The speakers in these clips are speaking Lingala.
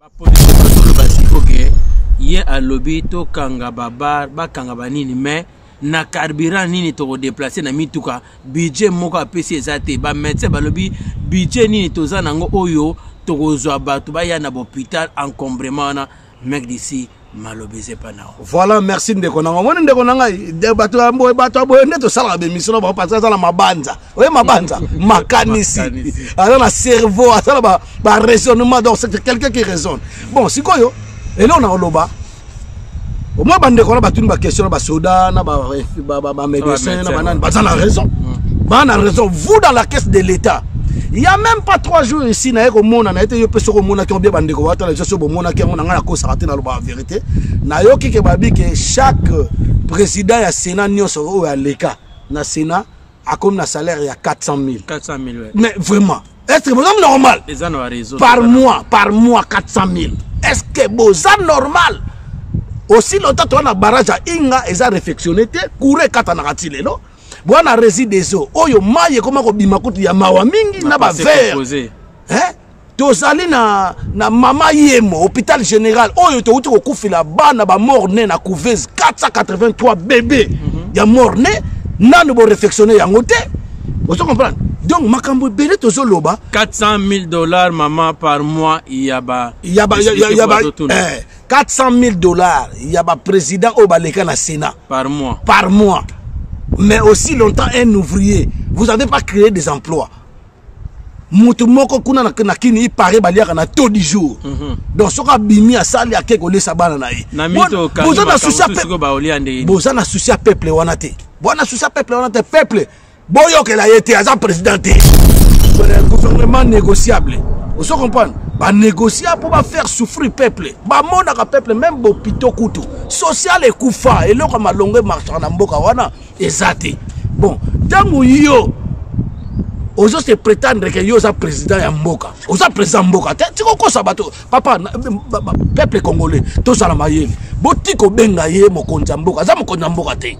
bapolisi bazoloba siko ke ye alobi tokanga babar bakanga banini mais na carburant nini tokodeplace na mituka budget moko apesi eza te bamédecin balobi budget nini toza nango oyo tokozwa bato baya na bopital encombrement wana mec d'ici maloba eza epa na voilà merci ndeko nanga omoni ndeko na ngai bato ya boye bato ya boye nde tosalaka bemission na bango parce aza na mabanza oye mabanza makanisi aza na cerveau aza na baraisonnement donc c'est quelqu'un qui raisonne bon sikoyo eleo na oloba omoi bandeko na batuni baquestion na basoda na bamédecin na banani baza na raison mm. baa na raison vous dans la caisse de l'état ya meme pas 3 jours ici naye komona naye te yo mpe soki omonaki obie bandeko wata na biso soki bomonaki yango na ngai nakosaka te nalobaka verité nayoki ke babi ke chaque président ya sénat nyonso oyo aleka na sénat akomi na salaire ya 400 000 400 000 ouais. mais vraiment est ce que boza normal par mois par mois 400 000 est ce que boza normal aussi longtemps toza na barrage ya inga eza réfectionne te courant ekatanaka ti lelo bwana resi des eaux oyo mai ekoma kobima kutu ya mawa mingi na bavere eh? tozali na, na mama yemo hôpital général oyo towuti kokufela bana bamort ne na couvese 483 bebe mm -hmm. ya mort ne nanu borefectionne yango te ozo comprendre donc makambo ebele tozoloba 400 000 dollars mama par mois ya ba ya ba ya, ya, ya ba eh, 400 000 dollars ya ba président oyo baleka na sénat par mois par mois mais aussi longtemps un ouvrier vous avez pas créé des emplois moto moko kuna na, na kini ipare baliaka na taux du jour mm -hmm. donc soki abimi asali ake kolesa bana na ye boza na susi ya peuple wana te boza na susi ya peuple wana te peuple boyokela ye te aza président te gouvernement négociable ozo comprendre banégocia mpo bafaire souffrir peuple bamonaka peuple meme bopito kutu social ekufa eloko ya malongo emarchaka na mboka wana eza te bon ntango yo ozo se prétendre ke yo oza président ya mboka oza président ya mboka te tika okosa bato papa peuple congolais tozala mayele botika obenga ye mokonzi ya mboka aza mokonzi ya mboka te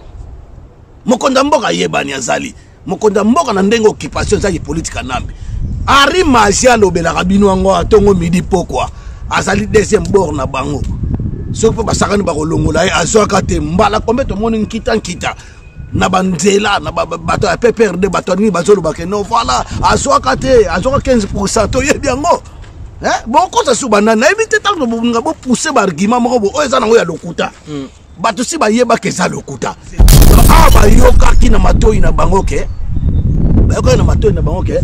mokonzi ya mboka ayebani azali mokonzi ya mboka na ndenge occupation ezaki politika nambi ari magi alobelaka bino yango atongo midi pokwa azali deuxième bord na bango soki mpe basakani bakolongola ye azwaka te mbala kombe tomoni nkita nkita na banzela na bato ya pprd bato ya nini bazolobake no voilà azwaka te azwaka 15 pourcent toyebi yango bokosa suba nani nayebi te ntango nga bopousse baargument moko bo oyo eza nango ya lokuta hmm. bato si bayebaka eza lokuta awa ah, bayokaki na matoi na bango ke bayokaki na matoi na bango ke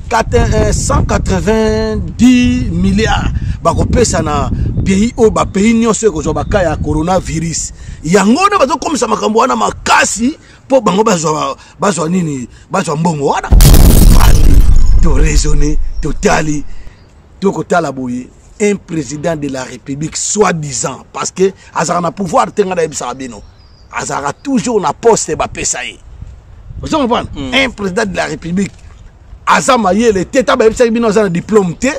190 eh, milliards bakopesa na pays oyo bapays nyonso ekozwa baka ya coronavirus yango wana bazokomisa makambo wana makasi mpo bango bazwa nini bazwa mbongo wana toraisonne totali tokotala boye un président de la république soit disant parce que azalaka na pouvoir te ngai nayebisaka bino azalaka toujours na poste bapesa ye ozo comprendre mm. un président de la république aza mayele te ntango bayebisaki bino aza na diplôme te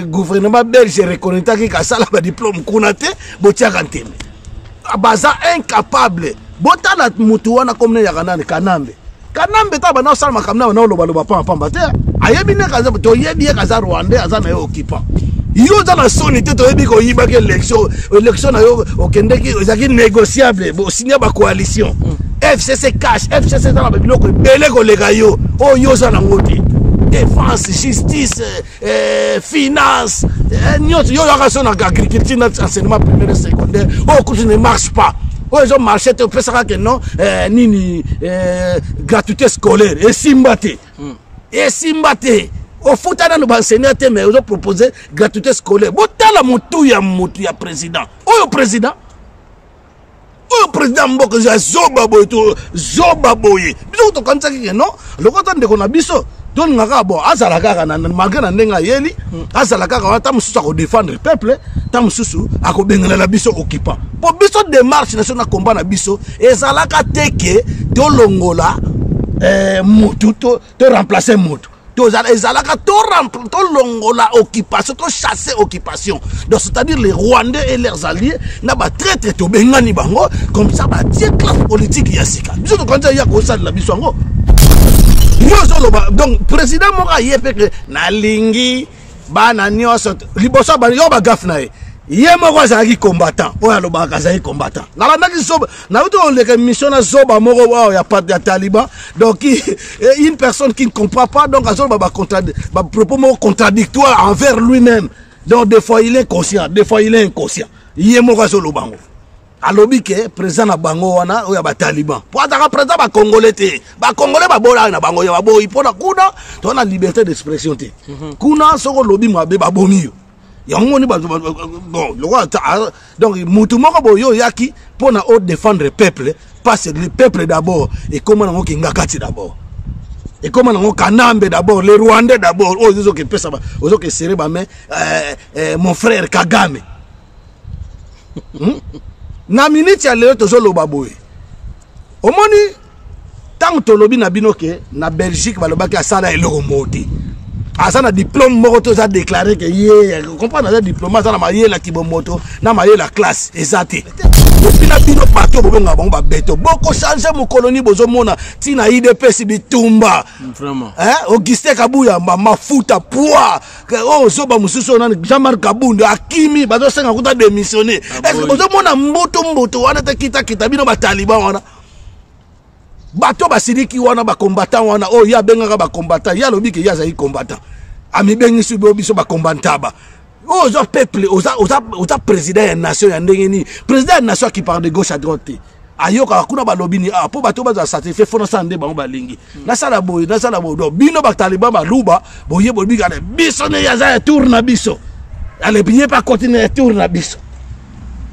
gouvernement belge reconnaitaki kasala badiplôme kuna te botiaka ntembe baza incapable botala motu wana komina yaka nani kanambe kanambe ta banda osala makambo na banda olobaloba pamba pamba te ayebi nde kaza toyebi ye kaza rwandais aza na ye occupant yo oza na soni te toyebi koyibaki élection élection na yo okendeki ezalaki négociable bosinya bacoalition mm. fcc cash fcc eza na babiloko ebele koleka yo oyo oh, yo oza nango te défense justice eh, finance eh, nyonso yo oyaka so na agriculture na enseignement primaire et secondaire oyo oh, kutu ne marche pas oyo oh, ezo marche te opesaka ke non eh, nini eh, gratuité scolaire esimba te hmm. esimba te ofuta nano baenseignant te mais ozo propose gratuité scolaire botala motu ya motu ya président oyo président oyo président mboka ya zoba boye to zoba boye biso tokanisaki ke non lokola ta ndeko na biso tolinga kaka bon azala kaka malgre na ndenge ayeli hmm. azala kaka wana ta mosusu akodefendre peuple ta mosusu akobengelela biso occupant mpo biso démarche na biso na combat na biso ezalaka te ke tolongola eh, motu to to remplacer moto ezalaka tolongola to occupation tochasse occupation donc c'est-à-dire les rwandais et leurs alliés na batraitre tobengani bango comme ça batie classe politique ya sika biso tokanisa ya kosalela biso yango yo ozoloba donc président moko aye mpe nalingi bana nyonso liboso abandi yo bagafe na ye ye moko azalaki combattant oyo alobaka azalaki combattant nalandaki zoba nauti koleka émission na zoba moko oyo ya, ya taliban donc eh, une personne qui ne comprend pas donc azoloba bapropos moko contradictoire envers lui-même donc des fois il est conscient des fois il est inconscient ye moko azoloba yango alobi ke président na bango wana oyo ya bataliban mpo ataka président bacongolais te bacongolais babolaki na bango ya baboyi mpo na kuna toza na liberté d'expression te mhm. kuna soki olobi mabe babomi yo yango ni bato bon lokola donc motu moko boye oyaki mpo na odefendre peuple parce le peuple d'abord ekóma nango kingakati d'abord ekóma nango kanambe d'abord le rwandais d'abord oyo ozoki epesa ozoki esere bame euh, euh, mon frère kagame hmm? na miniti ya lelo tozoloba boye omoni ntango tolobi na bino ke na belgique balobaki asala eloko moko te aza na diplome moko to eza déclaré ke ye comprendre aza diplome aza na mayele ya kibomoto na mayele ya classe eza te epi na bino bato bobengaka bango babeto bokochange mokoloni bozomona ntina idps bitumba augustin kabuyamba mafuta poi oyo oh, zoba mosusu oyo nani jean marc kabund akimi bazosenga kuta démissionne ah, estce ozomona mbutu mbutu wana te kitakita bino bataliban wana bato basiliki wana bacombattant wana oyo oh, ye abengaka bacombattant ye alobi ke ye azali combattant amibengisi bo biso bacombantaba oyo oh, oza peuple oza, oza, oza président ya nation ya ndenge nini président ya nation akiparle de gauche à droite te ayokaka kuna balobi ni ah, mpo bato bazala satisfait fo nasala nde bango balingi nasala boye nasala boye do bino bataliban baluba boye bolibikana biso neye aza ya tour na biso alebi ye mpe akoti na ya tour na biso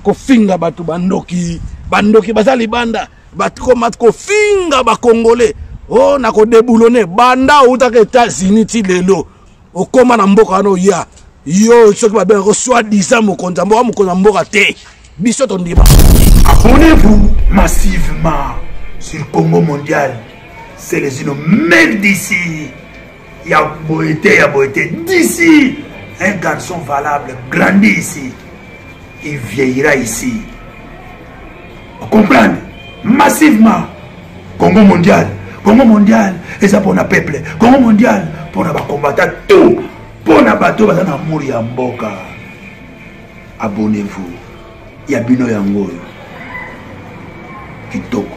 kofinga bato bandoki bandoki baza libanda bakoma kofinga bakongole o oh, na kodebulone banda outaka etats-unis ti lelo okoma na mboka wana oya yo soki babengako soi disant mokonzi ya mboka mokonzi ya mboka te biso tondima abonnez-vous massivement sur congo mondial selezino meme d'ici ya boye te ya boye te d'ici un garçon valable grandi ici il vieillira ici comprendre massivement congo mondial congo mondial eza mpona peuple congo mondial mpona bakombata tout mpona bato baza na mori ya mboka abonnez-vous ya bino yango oyo kitoko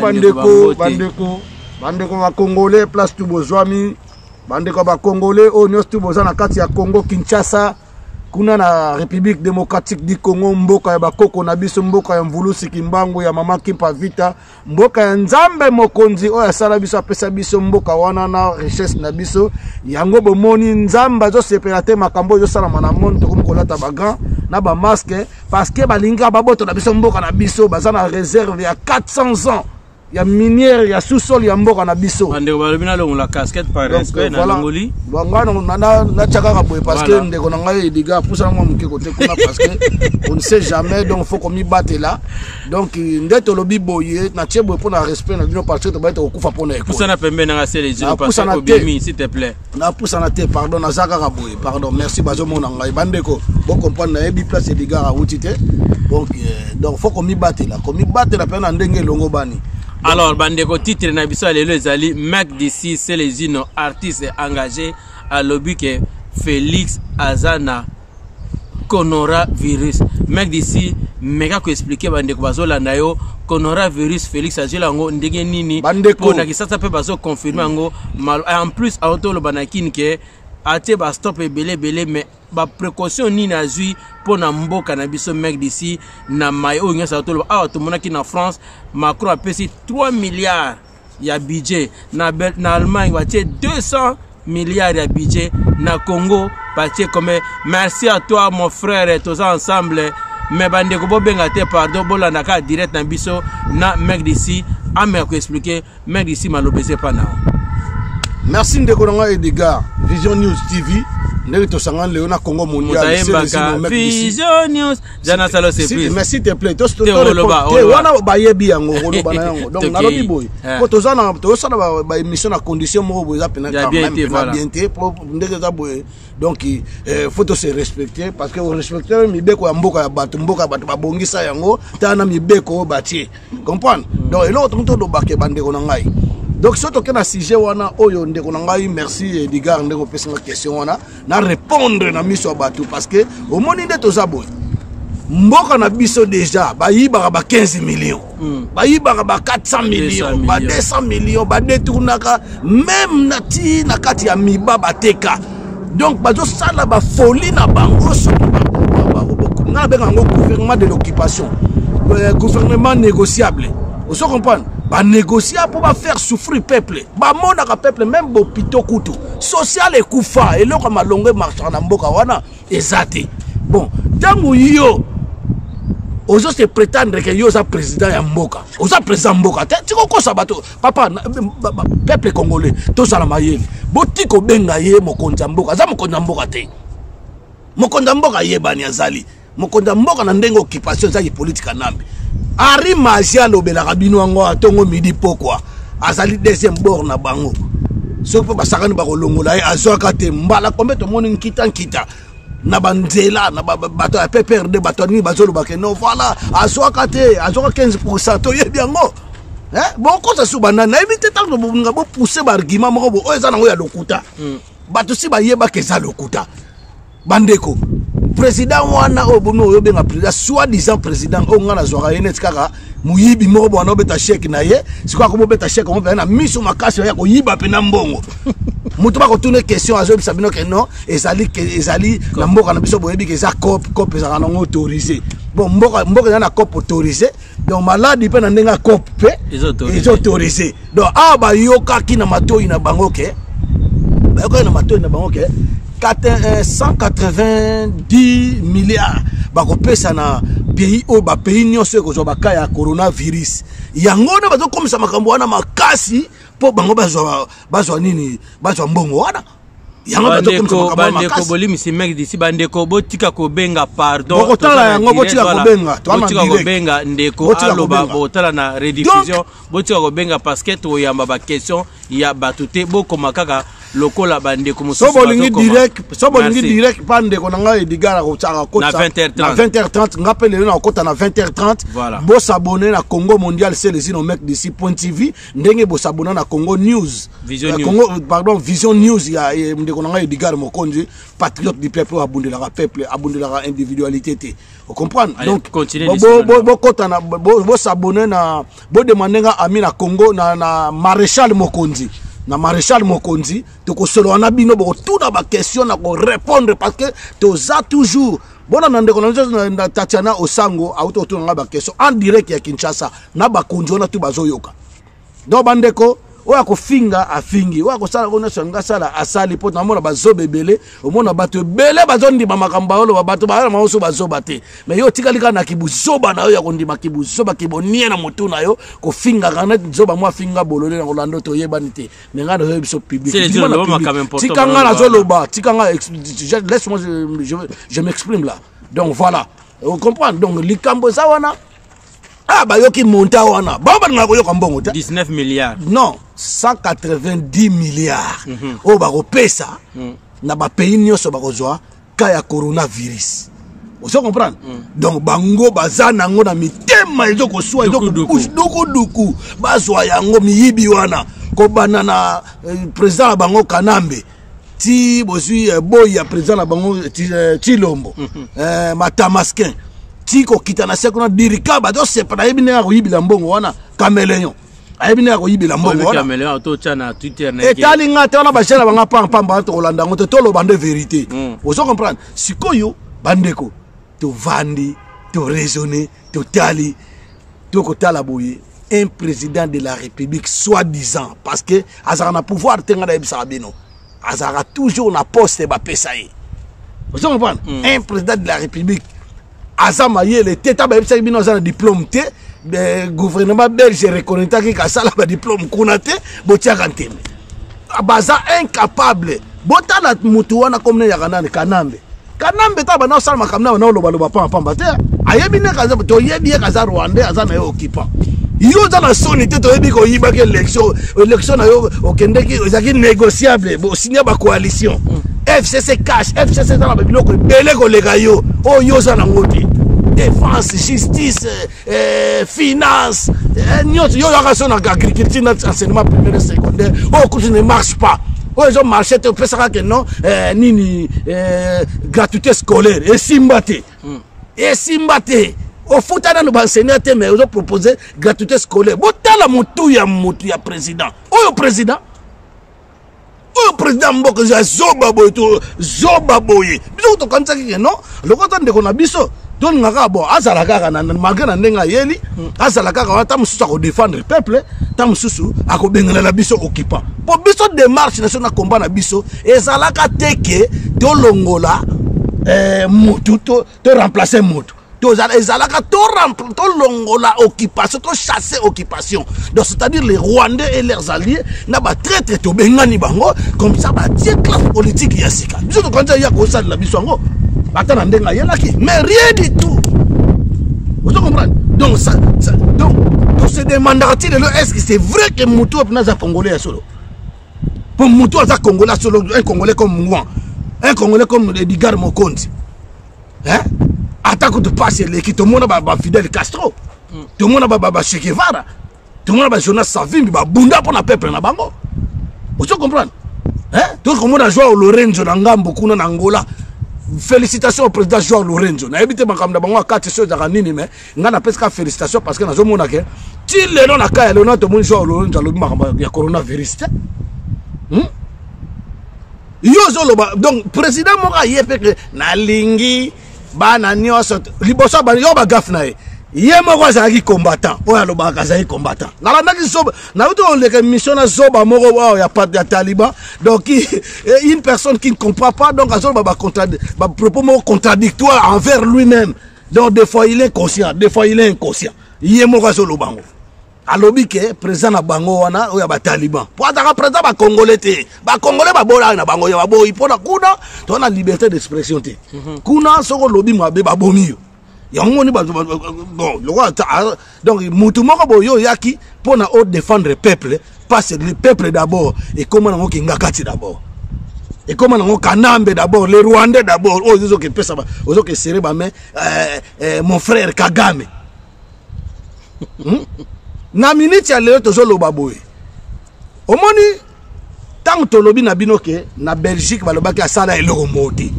bandeko bandeko bandeko bakongole place tu bozwami bandeko ya bakongole oyo nyonso tu boza na kati ya congo kinshasa kuna na république démocratique du congo mboka ya bakoko na biso mboka ya mvulusi kimbangu ya mama kimpa vita mboka ya nzambe mokonzi oyo asala biso apesa biso mboka wana na richesse na biso yango bomoni nzambe azosepela te makambo oyo ezosalama na monde tokomi kolata bagan na bamaske parce que balingi kaka babotola biso mboka na biso baza na réserve ya 400 ans ya minière ya sous-sol ya mboka na biso bandeko balobi nalongola casquette par respect nalongoli natya kaka boye parce que ndeko na ngai ediga apusana mwa moke kote kuna parce que on ne sait jamais donc faut komibatela donc nde tolobi boye natye boye mpo na respect na bino parce que tobali tokokufa mpo na ekopusana pembe nanga sele apusana te napusana te pardon naza kaka boye pardon merci bazomona ngai bandeko bocomprendre nayebi place edigara awuti te donc euh, donc faut komibatela komibatela mpe na ndenge elongobani alors bandeko titre na biso ya lelo ezali mac dc celesino artiste engagé alobi ke félix aza na coronavirus mec d'ici meka koexplike bandeko bazolanda yo coronavirus félix azweli yango ndenge nini mpo na kisasa mpe bazoconfirme yango en plus aotoloba na kini ke atie bastop ebele ebele mais baprécaution nini azwi mpo na mboka na biso mec d'ici na mai oyo nyonso aotoloba awa tomonaki na france macron apesi 3 milliards ya budget na, na allemagne batie 200 milliards ya budget na congo batie comme merci à toi mon frère toza ensemble mais bandeko bobenga te pardon bolanda kaka direct na biso na mec d'ici ame ya koexplike mec d'ici maloba eza epa nao merci ndeko na ngai edgar vision news tv ndenge tosangani lelo na congo mondial vision news ja nasala surprise mais s'il te plaît to to oloba te wana bayebi yango oloba na yango donc nalobi boye eh. po toza na tozosala ba émission na condition moko boye eza pena quand même na bien te po ndenge eza boye donc euh, faut to se respecter parce que respecter mibeko ya mboka ya bato mboka ya bato babongisa yango ta na mibeko oyo batie comprendre mm. donc eloko tokoki tolobaka ebandeko na ngai donc soki toke na sujet wana oyo ndeko na ngai merci edgar ndenge opesi nga question wana na repondre na miso ya bato parce que omoni nde toza boye mboka na biso deja bayibaka ba 15 millions mm. bayibaka ba 400 millions ba 200 millions badetournaka meme na ti na kati ya miba bateka donc bazosala bafolie na bango soki nga nabenga yango gouvernement de l'occupation euh, gouvernement négociable ozo comprendre banégocia mpo bafaire souffrir peuple bamonaka peuple même bopito kutu social ekufa eloko ya malongo emarchaka na mboka wana eza te bon ntango yo ozo se prétendre ke yo oza président ya mboka oza président mboka te tika okosa bato papa peuple congolais tozala mayele botika obenga ye mokonzi ya mboka aza mokonzi ya mboka te mokonzi ya mboka ayebani azali mokonzi ya mboka na ndenge occupation ezaki politika nambi ari masi alobelaka bino yango atongo midi pokwa azali deuxième bord na bango soki mpe basakani bakolongola ye azwaka te mbala kombe tomoni nkita nkita na banzela na bato ya pprd bato ya nini bazoloba ke no voilà azwaka te azwaka 15 pourcent toyebi yango eh, bokosa suba nani nayebi te ntango bolinga bopousse baargument moko bo oyo eza nango ya lokuta hmm. bato si bayebaka eza lokuta bandeko président wana oyo bomi oyo obenga président soit disant président oyo ngai nazwaka ye neti kaka moyibi moko bwana obeta sheke na ye sikoyo akomi obeta sheke yango mpenza na miso makasi ya koyiba mpenza mbongo moto bakotuna question azoyebisa bino ke non ezali ezali na mboka na biso boyebi ke eza cop cop ezalaka nango autorise bon mboka mboka eza na cop autorise donc maladi mpe na ndenge ya cope mpe eza autorise donc awa bayokaki na matoi na bango ke bayokaki na matoi na bango ke 190 eh, milliards bakopesa na pays oyo bapays nyonso ekozwa baka ya coronavirus yango wana bazokomisa makambo wana makasi mpo bango bazwa nini bazwa mbongo wana bandeko bolimisi mec disi bandeko botika kobenga pardonbokotala yango botika kobenga botika kobenga ndeko aloba bokotala na rediffusion botika kobenga parce que tokoyamba baquestion ya bato te bokoma kaka lokola bandeko mosusu so bolingi direct so bolingi direct pa ndeko na ngai edigara kotyaka kota na 20h30 nga mpe lelo nakokota na 20h30 voilà. bosabone na congo mondial selezino mec d'ici point tv ndenge bosabona na congo news vision euh, news. Congo, euh, pardon vision news ya ndeko na ngai edgar mokonzi patriote du peuple oyo abundelaka peuple abundelaka individualité te ocomprendre donc bokotana bosabone na bodemande nga ami na congo na, na maréchal mokonzi na maréchal mokonzi tokosolola na bino bokotuna baquestion na korépondre parce que toza toujours bona na ndeko na na tatiana osango auti kotuna ngai bakestion en direct ya kinshasa na bakonzi wana tu bazoyoka donc bandeko oyo akofinga afingi oyo akosala ngo nyonso yango asala asali mpo namona bazoba ebele omona bato ebele bazondima makambo baoloba bato bayana bango so bazoba te mai yo otikali kaka na kibuzoba na yo ya kondima kibuzoba kibonie na motu na yo kofingaka neti zoba mwa afinga bolole na kolanda oyo toyebani te me ngai nazoya biso publictika ngai nazoloba tika ngai laisse moi je m'exprime là donc voilà vous comprenez donc likambo eza wana ah bayoki monta wana bango balingaka koyoka mbongo te 19 milliards non 190 milliards mm -hmm. oyo bakopesa mm. na bapays nyonso bakozwa cas ya coronavirus ozo comprendre mm. donc bango baza nango na mitema ezo koswa ezodukuduku bazwa yango miyibi wana kobanda na eh, président na bango kanambe ti bozwi eh, boyi ya président na bango eh, tilombo mm -hmm. eh, matamaskin ti kokita na se kuna dirika bazosepana yebi ndenge akoyibila mbongo wana cameleon ayebi nde akoyibela mbongoetali nga te wana bajene banga pampamba wana tokolanda yango te toloba nde verité hmm. ozo comprendre sikoyo bandeko tovandi toraisonne totali tokotala boye un président de la république soit disant parce que azalaka na pouvoir te nga nayebisaka bino azalaka toujours na poste bapesa ye ozo comprendre hmm. un président de la république aza mayele te ntango bayebisaki bino aza na diplôme te gouvernement belge reconnaitaki kasala badiplôme kuna te botiaka ntembe baza incapable botala motu wana komina yaka nani kanambe kanambe ntango banda osala makambo na bana olobaloba pampamba te ayebi nde kaza toyebi ye kaza rwandais aza na ye occupant yo oza na soni te toyebi koyibaki élection élection na yo okendeki ezalaki négociable bosinya bacoalition mm. fcc cash fcc eza na babiloko ebele koleka yo oyo yo oza nango te défense justice eh, finance eh, nyonso yo oyaka so na agriculture na enseignement primaire et secondaire oyo oh, kutu ne marche pas oyo oh, ezo marche te opesaka ke non eh, nini eh, gratuité scolaire esimba te hmm. esimba te ofuta nano baenseignant te mais ozo propose gratuité scolaire botala motu ya motu ya président oyo président oyo président mboka ya zoba boye to zoba boye biso tokanisaki ke non lokola ta ndeko na biso tolinga kaka bon azala kaka malgre na ndenge ayeli hmm. azala kaka wana ta mosusu akodefendre peuple ta mosusu akobengelela biso occupant mpo biso démarche na biso na combat na biso ezalaka te ke tolongola eh, motu to to remplacer moto ezalaka tolongola to occupation tochasse occupation donc c'est-à-dire les rwandais et leurs alliés na batraitre tobengani bango comme ça batie classe politique ya sika biso tokanisa ya kosalela biso yango ata na ndenge ayelaki mais rien du tout ozo comprendre donc ça, ça donc tose demandaka ti lelo est ce que c'est vrai que motu oyo mpena aza congolais ya solo mpo motu aza congolais asolo un congolais comme moi un congolais comme edgar mokonzi hein? ata kutu mpasi eleki tomona bafidèle castro mm. tomona bachekevara tomona bajonas savimbi babunda mpo na peuple na bango ozo comprendre toki komona joao lorenzo na ngambo kuna na angola félicitation au président joao lorenzo nayebi te makambo na bango akati so ezaka nini mais nga na pesi ka félicitation parce que nazo mona ke ti lelo na kaya lelo na to moni joa ololo nja lobi makamba ya corona virus te hmm? yo zo loba donc président moko aye pe ke na lingi bana nioso liboso ba yo ba gaf na ye ye moko azalaki combattant oyo alobaka azalaki combattant nalandaki zoba nauti koleka émission na zoba moko oyo ya, ya taliban donc une personne qui ne comprend pas donc azoloba bapropos moko contradictoire envers lui-même donc des fois il est conscient des fois il est inconscient ye moko azoloba yango alobi ke président na bango wana oyo ya bataliban mpo ataka président bacongolais te bacongolais babolaki na bango ya baboyi mpo na kuna to na liberté d'expression te mhm. kuna soki olobi mabe babomi yo yango moni bon lokola donc mutu moko boye oyaki mpo na o défendre peuple parce le peuple d'abord ekoma nango kingakati d'abord ekoma nango kanambe d'abord le rwandais d'abord oyo oh, ozoke pesa ozoke serre bame euh, euh, mon frère kagame hmm? na miniti ya lelo tozoloba boye omoni ntango tolobi na bino ke na belgique balobaki asala eloko moko te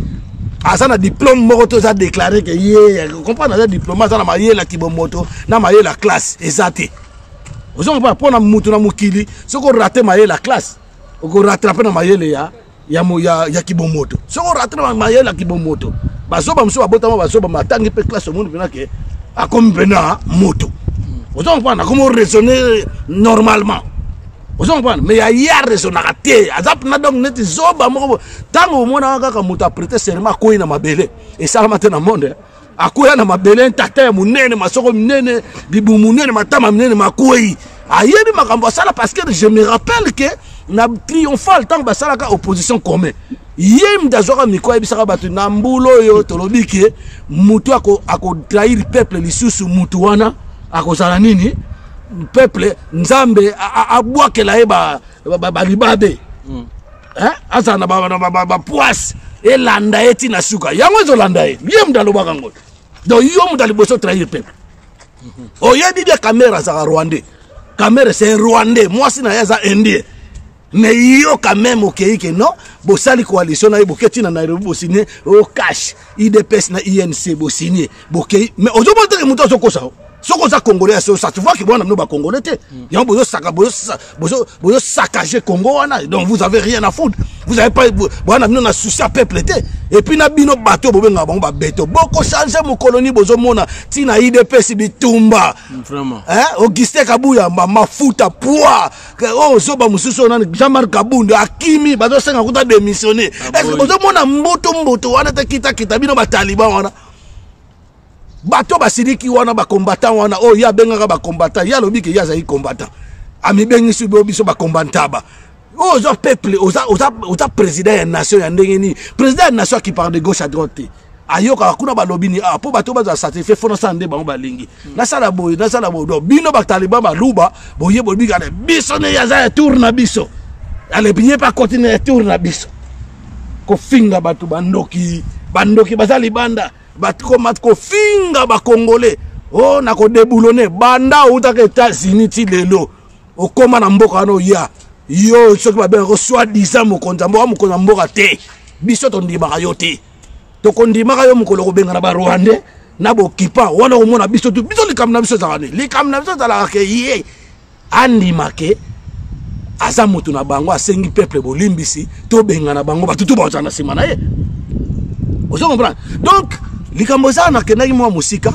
aza na diplôme moko to eza déclaré ke ye comprendre aza diplôme aza na mayele ya kibomoto na mayele ya classe eza te ozonga mpo mpo na motu na mokili soki orate mayele ya classe okoratrape na mayele ya ya, ya, ya kibomoto soki orate na mayele ya kibomoto bazoba mosusu babotama bazoba matangi mpe classe omoni mpena ke akomi mpena moto ozonga mpo na komi oraisonne normalement ozo comprendre mais ya ye arezonaka te aza mpena donc neti zoba moko ntango omonaka kaka moto aprete serema akwei na mabele esalama te na monde eh. akwea na mabele ntata ya monene masoko minene bibu monene matama minene makwei ayebi makambo asala parce que je me rappelle que na triomphal ntango basalaka opposition commun ye mde azwaka mikro ayebisaka bato na mbula oyo tolobi ke motu akotrahir ako peuple lisusu motu wana akozala nini peuple nzambe abwakela ye balibabe ba, ba, ba mm. eh? azala na bapoise ba, ba, ba, elanda ye ti na suka yango ezolanda ye ye mde alobaka ngo donc yo mde aliboso trahir peuple mhm. oyebi bia kamera azaka rwandais kamera c'est rwandais mwasi na ye aza indien mais yo quand même okei ke non bosali coalition na ye boketi na nairobi bosigne o oh, cash idps na inc bosigne bokei mais ozomona teke moto azokosa o soki oza congolais ya sosa tu vois ke bwana bino bacongolais te mm. yango bozosaka bozosakage congo wana donc vous avez rien à foudre vous avez pas bwana bino na souci ya peuple te epuis na bino bato oyo bobengaka bango babeto bokochange mokoloni bozomona ntina idps bitumba mm, augustin kabuyamba mafuta poi oyo oh, zoba mosusu oyo nani jean marc kabundu akimi bazosenga kuta démissionne ah, estce ozomona mbutu mbutu wana te kitakita bino bataliban wana bato basiliki wana bacombattant wana oyo oh, ye abengaka bacombattant ye alobi ke ye azali combattant amibengisi bo biso bacombantaba oyo oh, oza peuple oza, oza, oza président ya nation ya ndenge nini président ya nation akiparle de gauche à droite te ayokaka kuna balobi ni ah, mpo bato bazala satisfait fo nasala nde bango balingi nasala boye nasala boye do bino bataliban baluba boye bolibikana biso neye aza ya tour na biso alebiye mpe akoti na ya tour na biso kofinga bato bandoki bandoki baza libanda bakoma kofinga bakongole o oh, na kodebulone banda outaka etats-unis ti lelo okóma na mboka wana oya yo soki babengako soi disant mokonzi ya mboka mokonzi ya mboka te biso tondimaka yo te tokondimaka yo mokolo kobengana ba rwandais na bokipa wana komona biso tu biso likambo na biso ezalaka nini likambo na biso ezalaka ke ye andima ke aza moto na bango asengi peuple bolimbisi tobengana bango bato tu bakozala na nsima na ye ozo comprendre donc likambo eza nakendaki mwa mosika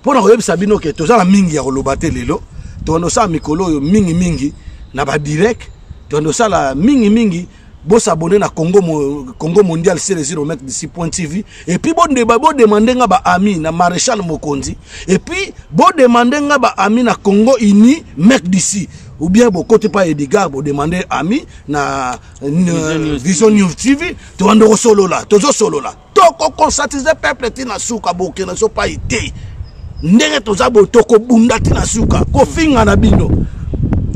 mpo na koyebisa bino ke toza na mingi ya koloba te lelo tokanda kosala mikolo oyo mingimingi na badirect tokanda kosala mingimingi Bo s'abonner na Congo, Congo Mondial c'est les remettre d'ici point TV. Et puis bon débat, bon demander nga ba amis na Maréchal Mokondi. Et puis bon demander nga ba amis na Congo Uni, mec d'ici. Ou bien bon côté pas Edgar, bon demander amis na, na Vision News TV. Tu vas solo là, tu solo là. toko conscientiser peuple ti na suka boke na so pai te ndenge toza boye tokobunda ti na suka kofinga na bino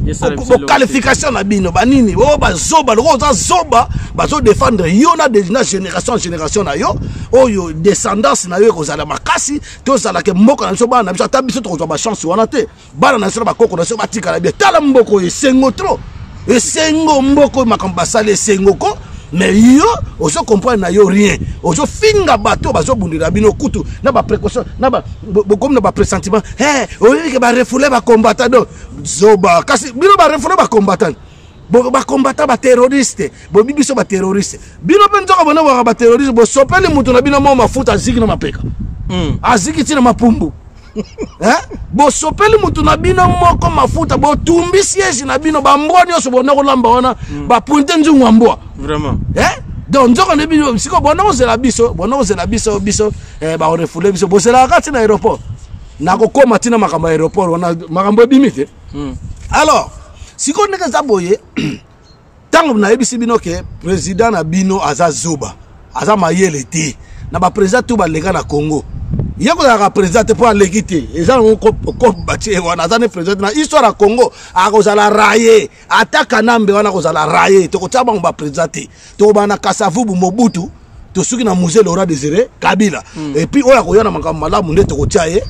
boqualification na bino banini oyo oh, bazoba lokola oza zoba bazodefendre yo na na génération ya génération na yo oyo oh, descendance na yo ekozala makasi tozalaka mboka na biso bana na biso ata biso tokozwa bachance wana te bana na biso na bakoko na biso batikala bien tala mboko esengo trop esengo mboko makambo basali esengo ko mais yo ozo comprendre na yo rien ozo finga bato bazobundela bino kutu na baprécaution na bokomi na bapressentiment e oyike barefoule bacombattant do zoba kasi bino barefoule bacombattant bakombata bateroriste bobi biso bateroriste bino mpe nzoka bonabwaka bateroriste bosopeli moto na bino mo mafuta aziki na mapeka hmm. aziki ntina mapumbu eh? bosopeli motu na bino moko mafuta botumbi siège na bino bambwa nyonso bonda kolamba wana mm. bapointe nzungu ya mbwa vraiment eh? donc nzoko nde bino sikoyo bonda kozela biso bonda kozela biso biso eh, bakorefule biso bozelaka kati na aéroport nakokóma ntina makambo ya aéroport wana makambo ebimi te mm. alors sikoyo ndenge eza boye ntango nayebisi bino ke president na bino aza zoba aza mayele te na bapresident to baleka na congo ye kozalaka president te mpo aleki te eza nango kobatie wana aza ne president te na histoire ya congo akozala raye ata kanambe wana akozala raye tokotia bango bapresident te tokobana kasavubu mobutu tosuki na musée laura désiré kabila mm. et puis oyo akoya na makambo malamu nde tokotia ye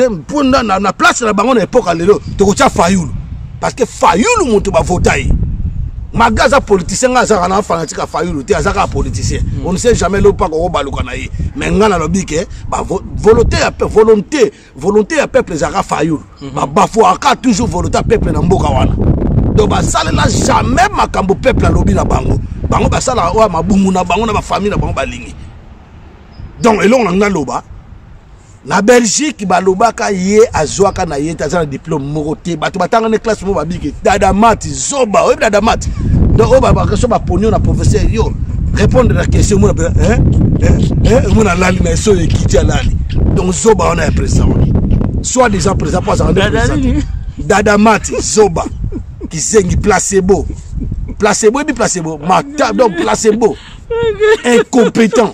mpo na, na, na place na bango na epoka lelo tokotia fayulu parce que fayulu moto bavota ye maga aza politicien ngai azalaka na fanatique ya fayulu te aza kaka politicien mm. on ne sait jamais lopa kokobaluka na ye mais ngai nalobi ke volonté ya volonté volonté ya peuple ezalaka fayulu mhm. babafuaka toujours volonté ya peuple na mboka wana donc basalela jamais makambo peuple alobi na bango bango basalaka oyo mabumu na bango na bafamille na bango balingi donc elongo na ngai loba na belgique balobaka ye azwaka na ye te aza na diplome moko te bato batanga ne classe moko babiki dada mati zoba oyebi na damat donc oyo babakaso baponi yo na professeur yo répondre na question omona mpe omona alali na eso oyo ekiti alali donc zoba wana ya président wana soit disant président mpo azalaka nde président dadamati zoba kizengi placebo placebo ebi placebo mata donc placebo incompétent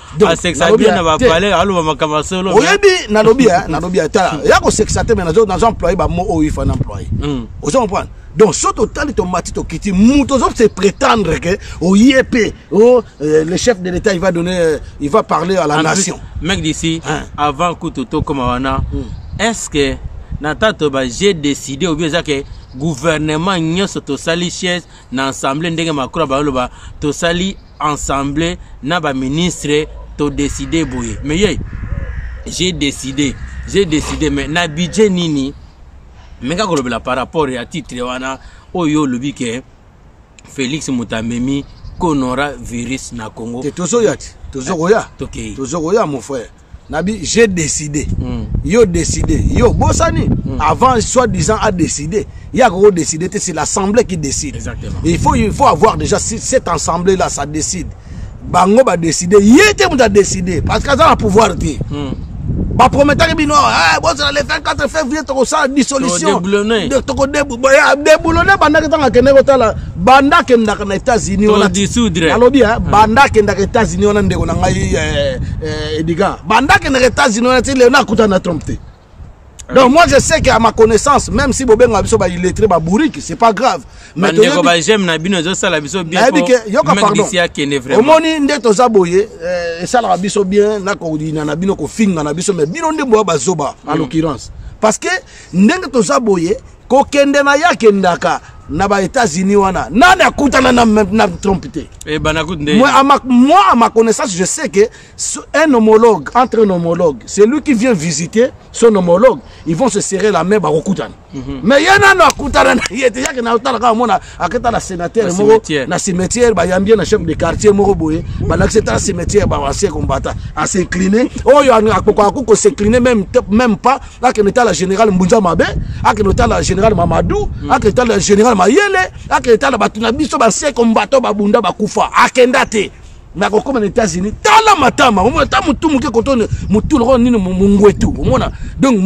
asekisa bien na bapale aloba makambo ya solo oyebi nalobi nalobi ata ya kosekisa te me nazo employe bamo oyo ifa na employe hmm. ozo comprendre donc soki totali tomati tokiti moto ozo se prétendre ke oye mpe oh, euh, le chef de l'état il va donner euh, il va parler à la en nation plus, mec d'ici hein? avant kutu tokoma wana hmm. est ce que na tato ba j'ai décidé obi eza ke gouvernement nyonso tosali chaise na assemblée ndenge macron baloba tosali ensemble na ba ministre to décider boye mais ye j'ai décidé j'ai décidé mais na budget nini meka kolobela par rapport ya titre wana oyo olobi ke félix moto amemi konora virus na congo tozoya te tozokoya ah, tozokoya mon frère nabi j'ai décidé mm. yo décidé yo bosani mm. avant soit disant a décidé il y a gros décidé c'est l'assemblée qui décide Exactement. il faut il faut avoir déjà cette assemblée là ça décide bango ba décider ye te moto adécider parce que aza na pouvoir te hmm. baprometaki bino eh, bozala le 24 février tokosala dissolution tokodeboulone bandaki ntango akende kotala banda akendaka na états-unis alobi eh, hmm. banda akendaka états-unis wana ndeko na ngai eh, eh, ediga banda kendeke états-unis wana ti lelo nakutana na trump te ah donc moi je sais que à ma connaissance même si bobenga biso ba illettré ba bourrique c'est pas grave mais ndeko ba j'aime na bino ezo sala biso bien nayebi ke yoka pardon omoni nde toza boye eh, esalaka biso bien na kodina na bino kofinga na biso mais bino nde boya bazoba en mm. l'occurrence parce que ndenge toza boye kokende na ye akendaka na ba états-unis wana nani akutana na, na trump te eh, moi, à ma, moi à ma connaissance je sais que un homologue entre un homologue c'est lui qui vient visiter son homologue ils vont se serrer la main bakokutana mm -hmm. mais ye nano akutana na ye te yake naotala kaka mona aketa na sénateur moko na cimetière bayambi ye na chef de quartier moko boye balakisi ete na cimetière bawasie kombata as'incline oyo akokoki kos'incline même pas akende tala général mbunza mabe akende tala général mamadou hmm. akende tala général mayele akende tala bato na biso basie kombata babunda bakufa akenda te nakokoma na états-unis tala matama omona ta motu moke kotone motu lokola nini mongwetu omona donc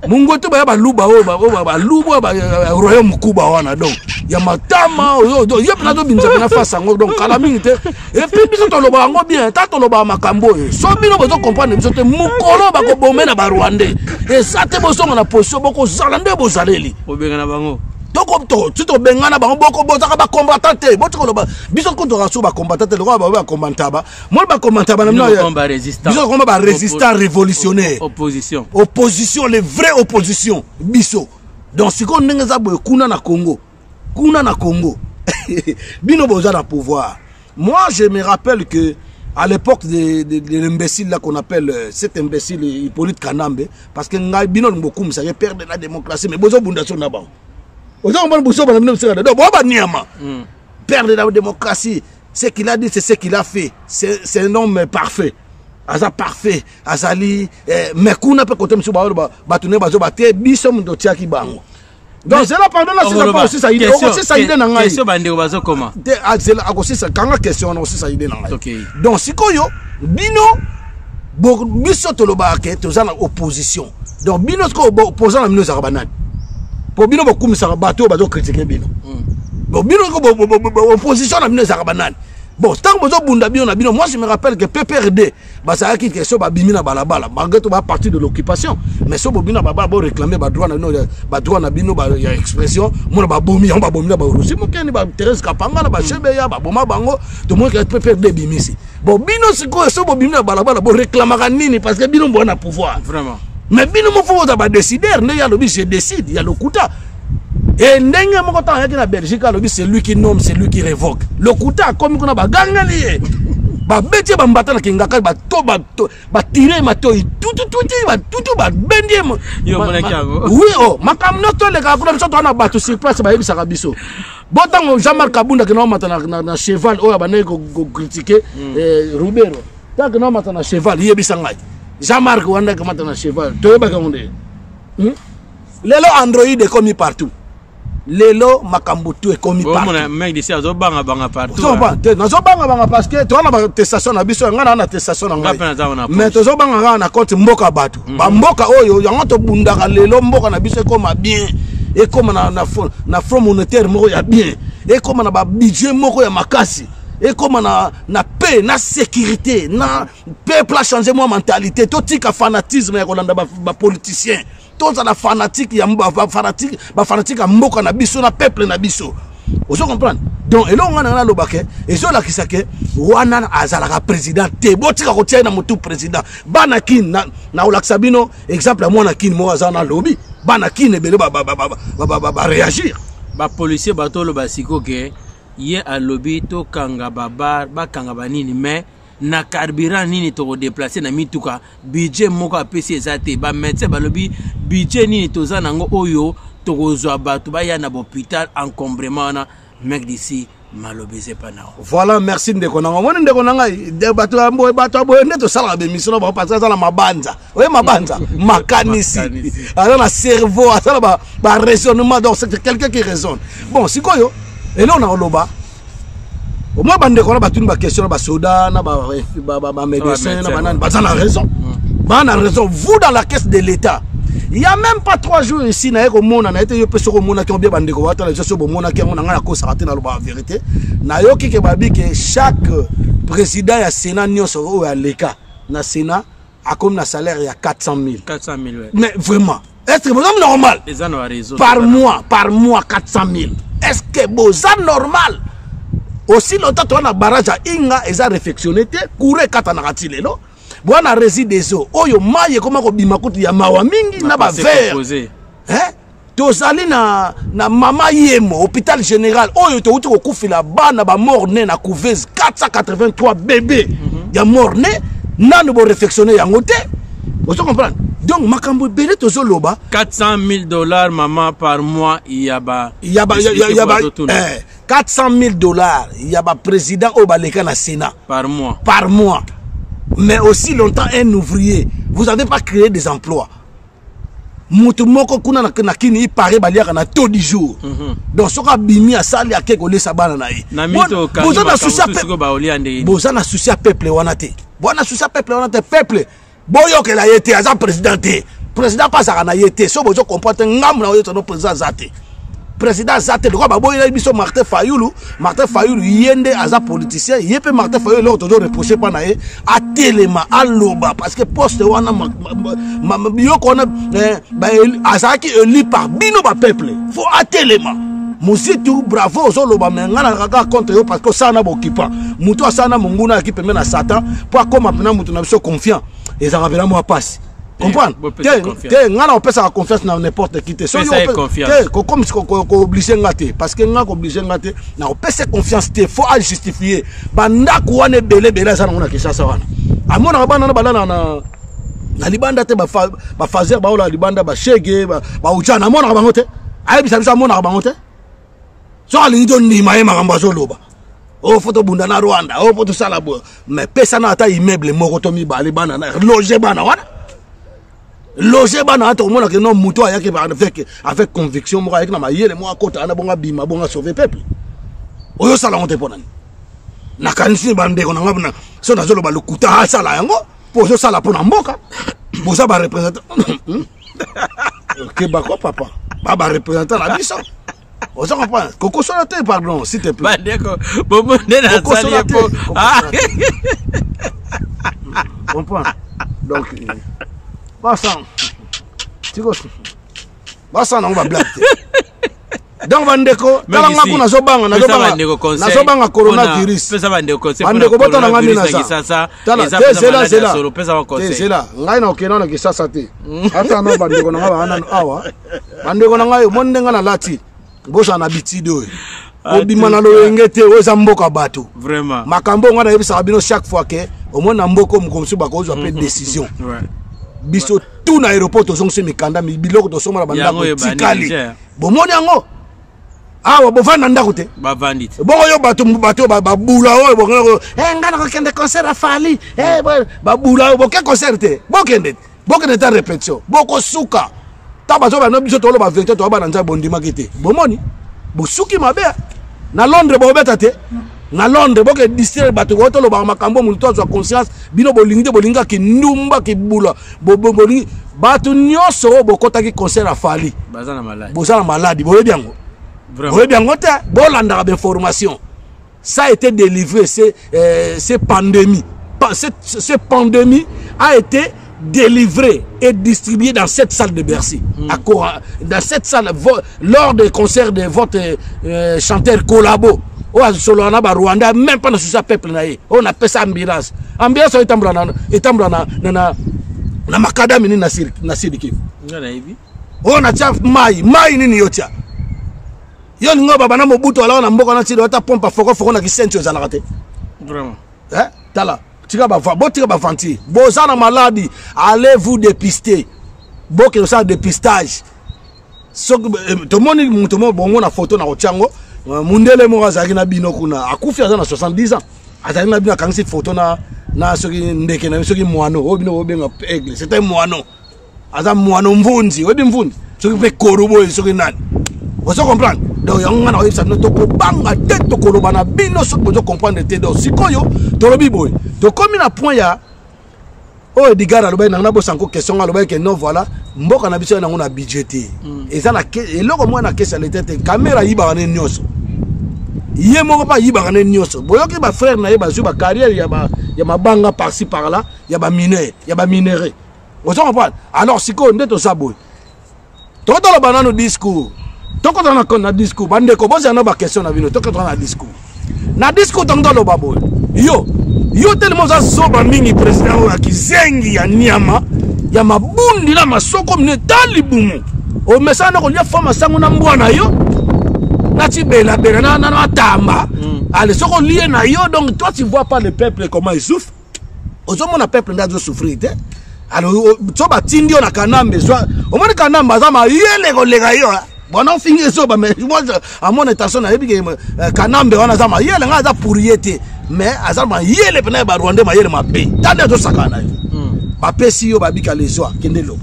mongwetu baya baluba oyo baluba oyo baroyaume mokuba wana donc ya matama ye mpena tobimisa mpena fasi yango donc kala mingi te epuis biso toloba yango bien ta tolobaka makambo oyo so bino bozo comprendre biso te mokolo bakobome na barwandais eza te bozonga na position bokozala nde bozaleli kobengana bango soki tobengana bango bozaka bacombatant te boti koloba biso kutu toka so bacombatant te lokola baoyo bacombantaba moi bacombantaba na binobiso koma barésistant révolutionnaire opposition opposition le vrai opposition biso donc sikoyo ndenge eza boye kuna na congo kuna na congo bino boza na pouvoir Moi, je me rappelle que à l'époque de, de, de l'imbécile là qu'on appelle euh, cet imbécile Hippolyte Kanambe, parce que ngai bino ngokum ça père de la démocratie, mais bozo bunda sur na bango. Ozo mbona bozo bana bino msika do boba niama. Hmm. Père de la démocratie, ce qu'il a dit c'est ce qu'il a fait. C'est un homme parfait. aza parfait azali eh, mais kuna mpe kote mosusu baoyo bato nde bazoba te biso moto otiaki bango donc zela pardon nasisa mpo osisa ide okosisa ide na ngai bandeko bazokoma te azela akosisa kanga question wana okosisa ide na ngai donc sikoyo bino biso tolobaka ke toza na opposition donc bino sikoyo opposant na bino ezalaka banani mpo bino bokumisaka bato oyo bazokritike bino bon bino opposition na bino ezalaka banani bon ntango bozobunda bino na bino moi je me rappelle que pprd bazalaki ke so babimi na balabala malgré to ba parti de l'occupation mais so bobimi na balabala boréclame badroit na bino badroit na bino ya expression mona babomi yango babomi na barusi mokeni ba therese kapangala bashebeya baboma bango tomonike pprd ebimisi bon bino sikoyo so bobimi na balabala boréclamaka nini parce que bino boa na pouvoir vraiment mais bino moko oza badécideur nde ye alobi je décide ya lokuta e ndenge moko ntango ayaki na belgique alobi c'est lui qui nomme c'est lui qui révoque lokuta akomi kuna bagangeli ye babeti ye bambata na kingakali batire ye matoi tutututi batutu babendi ye wi o oh, makambo nyonso tolekaka kuna biso toa na bato sur place bayebisaka biso bo ntango jean marc abunda kena omata na cheval oyo abandaki kokritike hmm. eh, rubero ntango kena omata na cheval yebisa ngai jean marc wandaki omata na cheval toyebaka yango nde hmm? lelo android ekomi partout lelo makambo tu ekomi partout nazobangabanga parce que toza na batestation na biso yanga naa na testation na ngai mais tozobanga kaka na compte mboka ya bato mhm. bamboka oyo yango tobundaka lelo mboka na biso ekoma bien ekoma na, na, na front monétaire moko ya bien ekoma na babudget moko ya makasi ekoma na, na paix na sécurité na peuple achange mwa mentalité totika fanatisme ya kolanda bapoliticien ba tozala fanatique ya fanatique ba fanatique ya mboka na biso na peuple na biso ozo comprendre donc eloko ngai nanga naloba ke ezolakisa ke wana azalaka président te botika kotia ye na motu président bana kin nakolakisa bino exemple ya mwana kin moko aza na lobi bana kin ebele bareagir bapolicier batoloba siko ke ye alobi tokanga babar bakanga banini mais na carburant nini tokodeplace na mituka budget moko apesi eza te bamédecin balobi budget nini toza nango oyo tokozwa bato baya na bopital encombrement wana mec d'ici maloba eza epa na voilà merci ndeko nanga omoni ndeko na ngai bato ya boye bato ya boye nde tosalaka bemission na bango parce aza na mabanza oye mabanza makanisi aza na cerveau aza na baraisonnement donc c'est quelqu'un qui raisonne bon sikoyo eloko na koloba au moins bandeko na batuni baquestion na basoda na bamédecin na banani baza na raison mm. baa na raison vous dans la caisse de l'état il y a même pas trois jours ici naye komona na ye te yo mpe soki omonaki yango bie bandeko batala biso soki bomonaki yango na ngai nakosaka te nalobaka verité nayoki ke babi ke chaque président ya sénat nyonso oyo aleka na sénat akomi na salaire ya 400 000 400 000 ouais. mais vraiment est ce que boza normal eza na raison par mois par mois 400 000 est ce que boza normal aussi lota toa na barrage ya inga eza réfectionné te courant ekatanaka ti lelo boa na rési des eaux oyo mai ekoma kobima kutu ya mawa mingi na bavere tozali na, na mama yemo hôpital général oyo towuti kokufela bana bamort ne na couveuse 483 bebe mm -hmm. ya mort ne nano borefectionne yango te ozo comprendre donc makambo ebele tozoloba 400 000 dollars mama par mois ya ba ya ba ya, ya, ya ba eh, 400 000 dollars ya ba président oyo baleka na sénat par mois par mois mais aussi longtemps un ouvrier vous avez pas créé des emplois moto moko kuna na, na kini ipare baliaka na to du jour mm -hmm. donc soki abimi asali ake kolesa bana na ye boza na susi ya peuple wana te boza na susi ya peuple wana te peuple boyokela ye te aza président te président mpe azalaka na ye te so bozo comprendre te ngambo na oyo tano président aza te président aza te lokola baboyelaki biso martin fayulu martin fayulu ye nde aza politicien ye mpe martin fayulu eloko tozo reproche mpa na ye atelema aloba parce que poste wana biloko wana eh, azalaki élu par bino bapeuple fo atelema mositu bravo ozoloba me ngai nalaka kaka contre yo parce que osala na bokipa motu asala na monguna yaki pembe na satan mpo akóma mpena motu na biso confiant ezalaka mpena mwa mpasi comprendre te ngai na opesaka confiance na n'importe qui te kooblige nga te parce que ngai kooblige nga te na opesa confiance te faut ajustifie bandako wana ebele ebele aza nango na kinshasa wana amonaka bana na balala na na libanda te bafazer baola libanda bashege baujana amonaka bango te ayebisa biso amonaka bango te soki alingi tondima ye makambo azoloba oyo oh, fo tobunda na rwanda oyo oh, mpo tosala boye mais pesana ata immeuble moko to mibale bana na loge bana wana loge bana wana tokomona ke no moto ayaki avec, avec conviction moko ayaki na mayele moko akota wana bongo abima bongo asauve peuple oyo osala yango te mpo nani nakanisi bandeko na ngai so nazoloba lokuta asala yango mpo ozosala mpo na mboka boza barepresentant keba ko papa ba ba représentant na biso oza comprendre kokosola te pardon s'il te plaît bandeko bomo nde nasali ye po ah. comprendre donc basang tikosi basang nango bablage te donc bandeko tala nga kuna azobanga nazobanga coronavirus bandeko botala nga nde nazazela ngai nakokenda na kisasa te ata no bandeko na ngai baanano awa bandeko na ngai omoni nde ngai nalati bosana na bitide oyo kobima ah, na loyenge te oyo eza mboka bato makambo oyo ngai nayebisaka bino chaque fois ke omoni na mboka oyo mokomosusu bakozwa mpe mhm. décision biso tout na aéroport tozongisi mikanda biloko tosomba na bandako etikali bomoni yango awa bovanda ndako te bavandi te bongo yo bato bato babula oyo bongo eh, ngai nakokende concert ya fali eh, babula oyo boke concert te bokende bokende ta répétition bokosuka ta bato bana biso toloba verité toyaba na nzambe bondimaki te bomoni bosuki mabe na londres bobeta te na londres boke distraire bato oyo tolobaka makambo moto azwa conscience bino bolingi te bolingaki ndumba kibula bobongoli bato nyonso oyo bokotaki concert ya fali boza na maladi boyebi yango boyebi yango te bolandaka bainformation ça a été délivré c'est euh, pandémie ce pandémie a été délivré et distribué dans cette salle de Bercy. Mm. À Cora, dans cette salle, lors des concerts de votre euh, chanteur collabo oyo azosolola na barwanda même mpa na susi ya peuple na ye oyo napesa ambulance ambulance oyo etambola na, etambola na, na, na, na makadami nini na sidi kivu oyo natya mai mai nini yo tya yo ningo baba na mobutu alaka na mboka na tidi ata pompe fokofoko na kisentio ezalaka te eh? tala tika botika baventure boza na maladi allez vous dépister bokende osala dépistage soki eh, tomoni moto moko bongo na foto na kotya yango euh, mondele moko azalaki na bino kuna akufi aza na 70 ans azalaki na bino akangisi foto na na soki ndeke na bino soki mwano oyo bino obenga aigle c'est un mwano aza mwano mvunzi oyebi mvunzi soki mpe koro boye soki nani ozo comprendre donc yango ngai nakoyebisa bino tokobanga te tokoloba na bino soki bozo comprendre te donc sikoyo tolobi boye tokomi na point ya oyo oh, edgar alobaki nango nabosa nko question nga alobaki ke non voilà mboka na biso ya nango na budget te hmm. eza na eloko moko na kesi ya leta te kamera ayibaka ne nyonso ye moko mpe ayibaka ne nyonso boyoki bafrère na ye bazwi bacarrière ya mabanga parci par là ya bamineur ya baminere oza comprendre alors sikoyo nde toza boye toka toloba nanu discours tokota na, na discours bandeko bozala na baquestion na bino tokota na discours na discours ntango toloba boye yo yo telema oza zoba mingi président oyo ya kizengi ya nyama ya mabundi na masoko mine ta libumu omesana na kolia fo masango na mbwa na yo nati belabela na matamba mm. ale soki olie na yo donc toi tu vois pas le peuple comment il souffre ozomona peuple nde azo souffrir te alors so batindi yo na kanambe zwa omoni kanambe aza mayele koleka yo eh? bona ofingi ezoba mais moi à mon intention nayebi ke euh, kanambe wana aza mayele ngai aza pourrie te mais aza mayele mpena ya barwandais mayele mabe tande azosakana na yo hmm. bapesi yo babika lezwa kende loba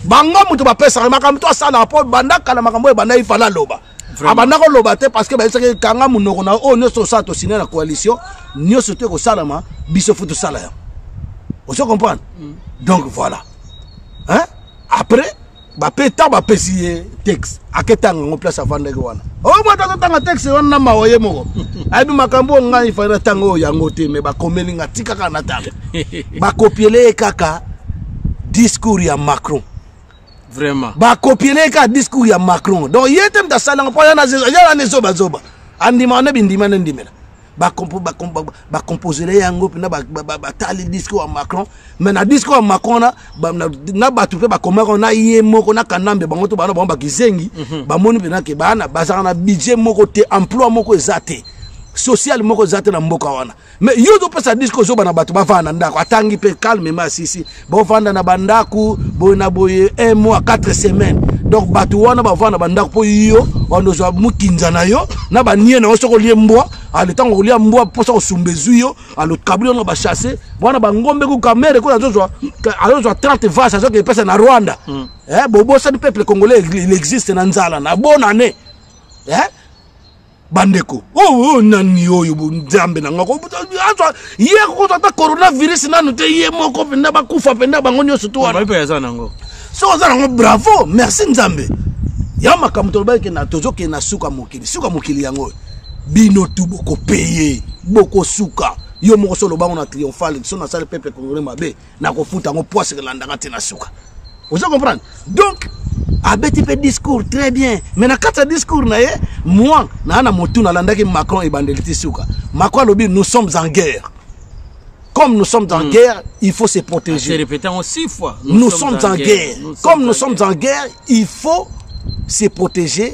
bango moto bapesaka makambo to asalaka mpo banda kala makambo oyo ebanda ifala aloba abanda koloba te parce que bayebisaki kanga monoko na oyo nyonso osala tosine na coalition nyonso te kosalama biso fo tosala yango ozo comprendre mm. donc voilà hein? après bape ntango bapesi ye texte aketanga yango place avandaki wana oyo oh, moto azotanga texte wana na mawa ye moko ayebi makambo oyo ngai fai natanga oyo yango te me bakomeli nga tika kaka natanga bakopiele ye kaka discours ya macron vraiment bakopiele ye kaka discours ya macron donc ye te moto asalanga mpo yala ne zobazoba andimaka nde bindima nde ndimela bakomposele yango mpena batali discours ya macron mais na discours ya macron na bato mpe bakomaka na ye moko na kanambe bango to bana bango bakizengi mhm. bamoni mpena ke bana bazalaka na budget moko te emploi moko eza te sociale moko eza te na mboka wana mais yo ozopesa disque ozoba na bato bavanda na ndako atangi mpe calmement asisi bovanda na bandako boye na boye un mois 4 semaine donc bato wana bavanda na bandako mpo yo wanda ozwa mokinza na yo na banie na yo soki olie mbwa ale ntango olia mbwa mposa kosumba ezwi yo alokabli yango bachasse wana bangombe ku kamere kuna azozwa 30 vase azoki epesa na rwanda mm. eh, bobosani peuple congolais il existe na nzala na bonane eh? bandeko oyo oh, oh, nani oyo nzambe na ngako azwa ye akokozwa ata coronavirus nanu te ye moko mpenza bakufa mpenza bango nyonso to wana soki oza nango bravo merci nzambe ya makambo tolobaki kena tozokende na suka mokili suka mokili yango oyo bino tu bokopeye bokosuka yo moko so olobango na triomphale so nasali peuple congolais mabe nakofuta yango poise elandaka ti na suka ozo comprendre donc abeti mpe discours très bien mais na kati ya discours na ye moi naa na motu nalandaki macron ebandeli ti suka macron alobi nous sommes en guerre comme nous sommes en mm. guerre, il faut se protéger. Répété en six fois. Nous, nous sommes, sommes, en guerre. guerre. Nous comme nous sommes en guerre, il faut se protéger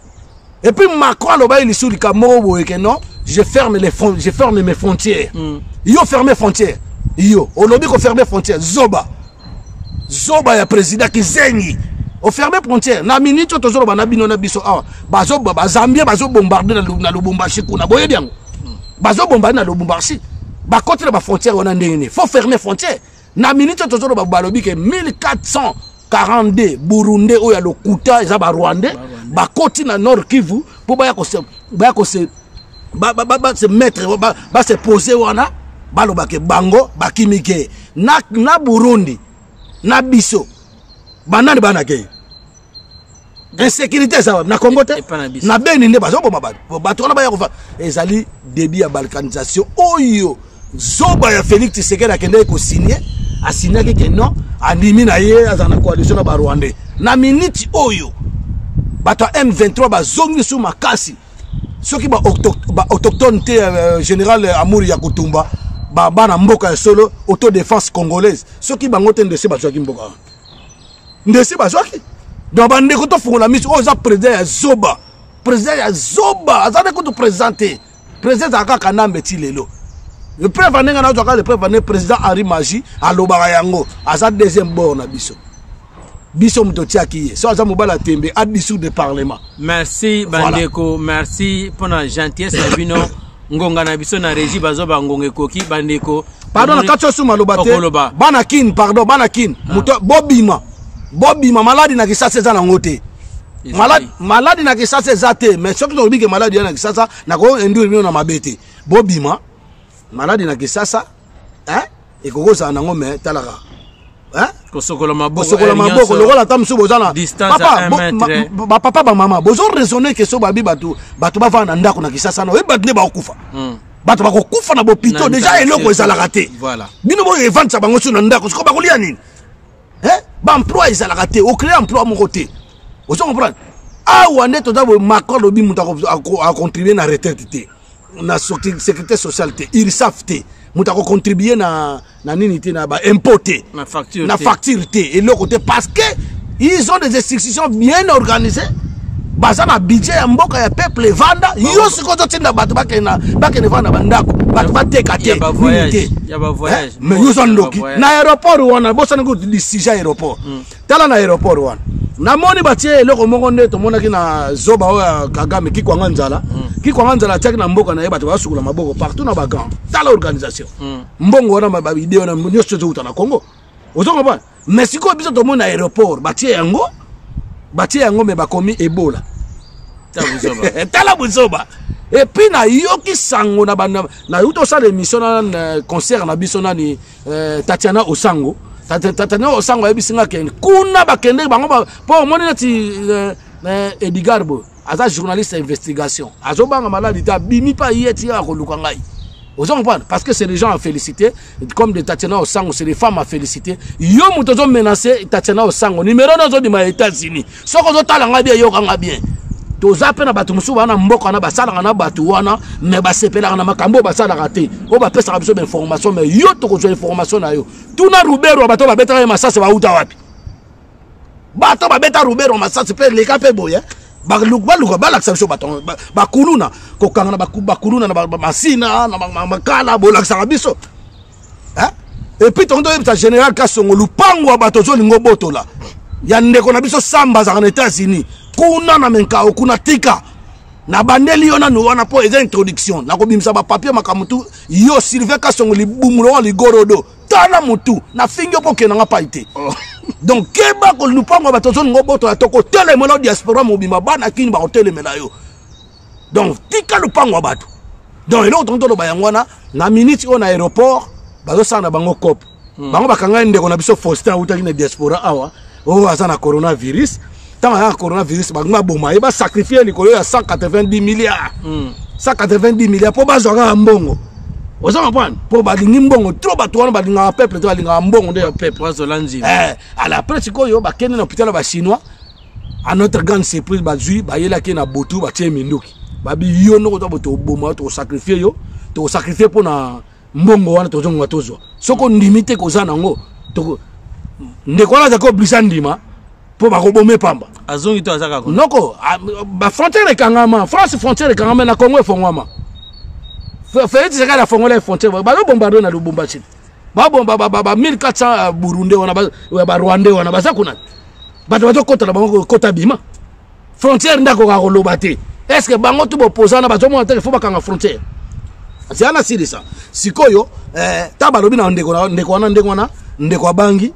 et puis macron alobaki lisusu likambo moko boye ke non je ferme, les fron je ferme mes frontières mm. yo ferme frontière yo olobi koferme frontière zoba zoba ya président kizengi oferme frontière na minute oyo tozoloba na bino na biso awa bazambien bazobombarde na lubumbashi kuna boyebi yango mm. bazobombarde na lubumbashi bakoti na bafrontière wana ndenge nini faut ferme frontière na minute oyo tozoloba balobi ke 1442 burundais oyo ya lokuta eza barwandais bakoti na nord kivu mpo baya kose baya kose base mettre base pose wana balobake bango bakimi ke na, na burundi na biso banani banakei insécurité eza wapi na congo te na beni nde bazoboma bato bato wana baya kofa ezali débit ya balkanisation oyo zoba ya félix tshisekedi akendaki kosigne asignaki ke non andimi na ye azala na coalition na barwandais na miniti oyo bato ya m23 bazongi su makasi soki baautochtone te euh, général amour ya kotumba bana mboka ya solo autodefense congolaise soki bango te ndese bazwaki mboka wana ndesi bazwaki donc bandeko tofungola miso oyo eza président ya zoba président ya zoba aza nde kutu président te président ezala kaka kanambe ti lelo lepreuve ane ngai nazwaka lepreuve ane président henri magi alobaka yango aza deuxième bord na biso biso moto otiaki ye so aza mobali ya tembe adissoudre parlement merci bandeko voilà. merci mpo na gentillesse na bino ngonga na biso na régie bazo ba ngonga ekoki bandeko pardon na kati osu maloba te bana kin pardon bana kin ah. moto bobima bobima maladi na kisasa eza nango te maladi, maladi na kisasa eza te mais soki tolobi ke maladi ya na kisasa nakoendure bino na mabe te bobima maladi na kisasa eh? ekoki kozala nango me talaka kosokola maboko lokola ata mosusu boza na bapapa bamama bozo raisonne ke so babi bato bato bavanda na ndako na kisasa na oyebi bato nde bakokufa hmm. bato bakokufa na bopito deja eloko ezalaka te bino boyo evandisa bango su na ndako siko bakolia nini baemploi ezalaka te ocree emploi moko te ozo comprendre awa nde toza macron lobi moto acontribue na retraite te na sécurité sociale te ursaf te moto akocontribue na, na nini te na baimpôt te na facture, na facture te eloko te parce que ils ont des institutions bien organisées baza na budget ya mboka ya peuple evanda yo sikoyo ozotinda bato bakende vanda bandako bato bateka te nini te mais yo oza ndoki na aéroport wana bosani kutu disija aéroport hmm. tala na aéroport wana namoni batie eloko moko nde tomonaki na zoba oyo ya kagame kikwanga nzala hmm. kikwanga nzala atiaki na mboka na ye bato basukula maboko partout na bagan tala organisation hmm. mbongo wana bavideo na nyonso ezowuta na congo ozo comprendre mais sikoyo biso tomoni na aéroport batie yango batie yango me bakomi ebola tala buzoba epuis nayoki sango na bana nauti osala émission na concert na biso nani eh, tatiana osango tatiana osango ayebisi nga kende kuna bakendeki bango mpo omoni neti eh, eh, edigard boye aza journaliste ya investigation azobanga maladi te abimi mpe aye ti akoluka ngai ozo comprendre parce que c'est des gens à féliciter comme de tatiana osango c'est des femmes à féliciter yo moto ozo menace tatiana osango numero na ozobima ya états-unis soki ozotala ngai bien yoka ngai bien toza mpe na bato mosusu baa na mboka wana basalaka na bato wana me basepelaka na makambo oyo basalaka te oyo bapesaka biso bainformation me yo tokozwa information na yo tuna rubero ya bato babetaka ye masasi bauta wapi bato babeta rubero ya masasi mpe leka mpe boye baluka balakisa biso bato bakuluna kokanga na bakuluna na masina na makala bolakisaka biso hein? et puis tonto yebisa général kasongo lupango ya bato ozolinga obotola ya ndeko na biso samba azalaka na états-unis kuna na menkao kuna tika nabandeli yo nanu wana mpo eza introduction nakobimisa bapapier makambo tu yo sylvain kasongo libumu lokola ligorodo tala motu nafingi yo mpo okende nga pai te oh. donc keba kolupango ya bato ozolinga obotola tokotelemela diaspora mobimba bana kini bakotelemela yo donc tika lopango ya bato donc eloko tongi toloba yango wana na minute oyo na aéroport bazosala na bango cope hmm. bango bakangani ndeko na biso faustin autaki na diaspora awa oyo oh, aza na coronavirus ntango aza na coronavirus bango baboma ye basakrifie likolo ya 190 milliard 190 hmm. milliard mpo bazwa kaka mbongo oza comprendre mpo balingi mbongo tro bato wana balingaka peuple te balingaka mbongo nde ya peuple azola nzima eh, ala apres sikoyo bakende na hôpital ya bachinois à notre grande surprise bazwi bayelaki na botu batie minduki babi yo noko to boto oboma to sacrifier yo to sacrifier pona mbongo wana to zonga tozwa soko ndimi te koza nango to ndeko wana zako blisa ndima po bakobome pamba azongi to azaka ko noko ba frontière ekangama France frontière ekangama na Congo efongwama Félix Tshisekedi afongola frontière bazo bombarder na Lubumbashi babomba ba, ba, ba 1400 burundais wana barwandais wana baza kuna bato bazokota na bango kota bima frontière nde akoka koloba te est ce que bango tu bopozana bazomona te fo bakanga frontière zela nasilisa sikoyo eh, ta balobi na ndeko wana ndeko wana ndenge wana ndeko abangi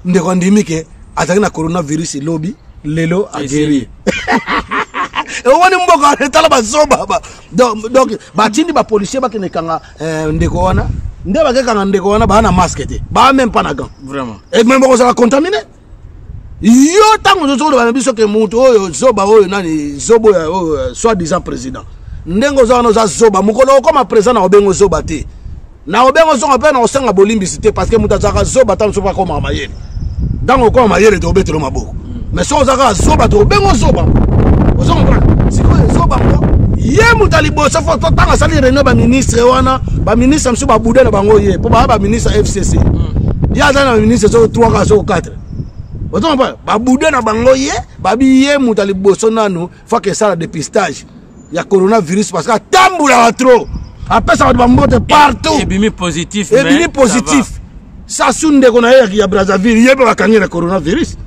ndeko andimi ke azalaki na coronavirus lobi lelo ageri omoni mboka etala bazoba donc batindi bapolicier bakende kanga eh, ndeko wana nde bakekanga ndeko wana baa na masque te baa meme pas na gant vraiment et meme bakozala contamine yo ntango ozozo koloba na biso ke moto oyo zoba oyo nani zoba oyo oyo euh, soit disant président ndenge oza wana oza zoba mokolo okoma président na kobenga ozoba te na kobenga ozonga mpe na kosenga bolimbisi te parce que moto azalaka zoba ntango mosusu mpe akomaka mayele ntango okoma mayele tokobetelo maboko me soki oza kaka zoba tokobengo zoba ozo comprendre sikoyo zoba ngo ye moto ya liboso fo totanga asali réunion baministre wana baministre mosusu babuda na bango ye mpo baya baministre ya fcc ye azali na baministre soko 3 kaka soko 4 ozo comprendre babuda na bango ye babi ye moto ya liboso nanu faka esala depistage ya coronavirus parce que atambulaka trop apesa bato bambote partout ebimi positif ebimi positif sasu ndeko na ye ya brazzaville ye mpe bakangi na coronavirus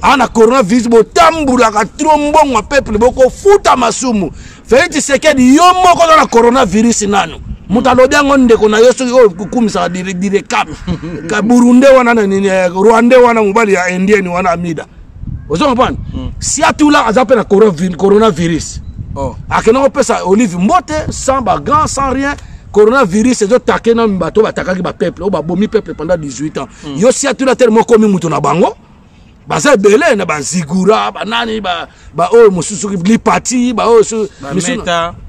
aa na coronavirus botambulaka tro mbongo ya peuple bokofuta masumu felix tshisekedi yo moko oza na coronavirus nanu moto alobi yango ndeko na yo soki oyo kokumisaka direkame kaburunde wana na nini eh, rwande wana mobali ya indienne wana amida ozo comprendre mm. siatula aza mpe na coronavirus oh. akenda kopesa olive mbote sans bagrand sans rien coronavirus ezotake na bato batakaki bapeuple oyo babomi peuple pendant 18 ans mm. yo siatula tele moko okomi moto na bango baza ebele na bazigura banani baoyo mosusu lipati baoyo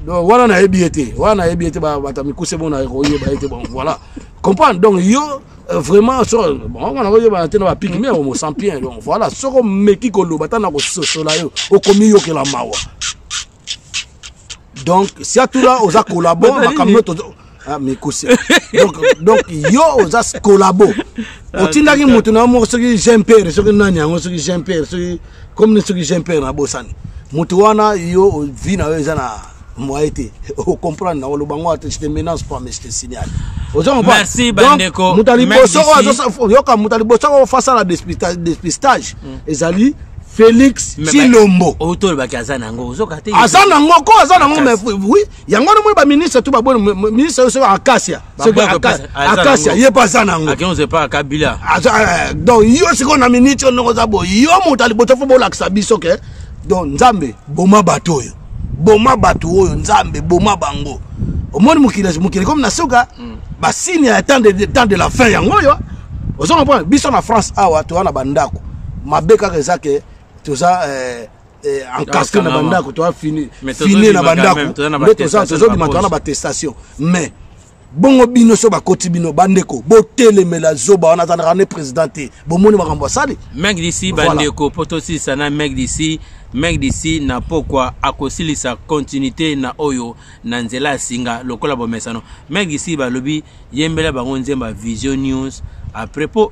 wana nayebi ye te wana nayebi ye te bata mikuse mona ekoyeba ye te bon voilà comprendre donc yo Euh, vraiment so bango na koyebana te na bapiki me omo sampien donc voilà soki omeki koloba ata na kososola yo okomiyokela mawa donc siatula oza kolabo makambo nyoto ah, mikosi donc, donc yo oza kolabo ah, otindaki motu na yo moko soki jean pere soki nani yango soki jean pere soki comme ni soki jean pere nabosani motu wana yo vi na yo eza na moye te ocomprendre nango loba ngo ate je te menace pas mais je te signale oza comprendre moto ya liboso oyo yoka moto ya liboso oyo fasala despistage mm. ezali félix cilombo oyo tolobaki aza nango ozoka te aza nango ko aza nango mais oui yango wana moi baministre to baboni ministre oyo soki akasia soki akasia ye mpe aza nango eh, donc yo sikoyo na miniti oyo ndongo oza boye yo moto aliboto fo bolakisa biso ke donc nzambe boma bato oyo boma bato oyo nzambe boma bango omoni mokili mokili komi na suka mm. basigne ya temps de, temps de la fin yango oyo ozo comprendre biso na france awa toza na bandako mabe kaka eza ke toza eh, eh, encastre na bandako toza fini fini na bandako nde toza tozobima toza na batestation mais bongo bino so bakoti bino bandeko botelemela zoba wana azalaka ne président te bomoni makambo asali meg disi bandeko mpo tosilisa na meg disi meg disi na pokwa akosilisa continuité na oyo na nzela ya singa lokola bomesano meg disi balobi yembela bango nzemba vision news après mpo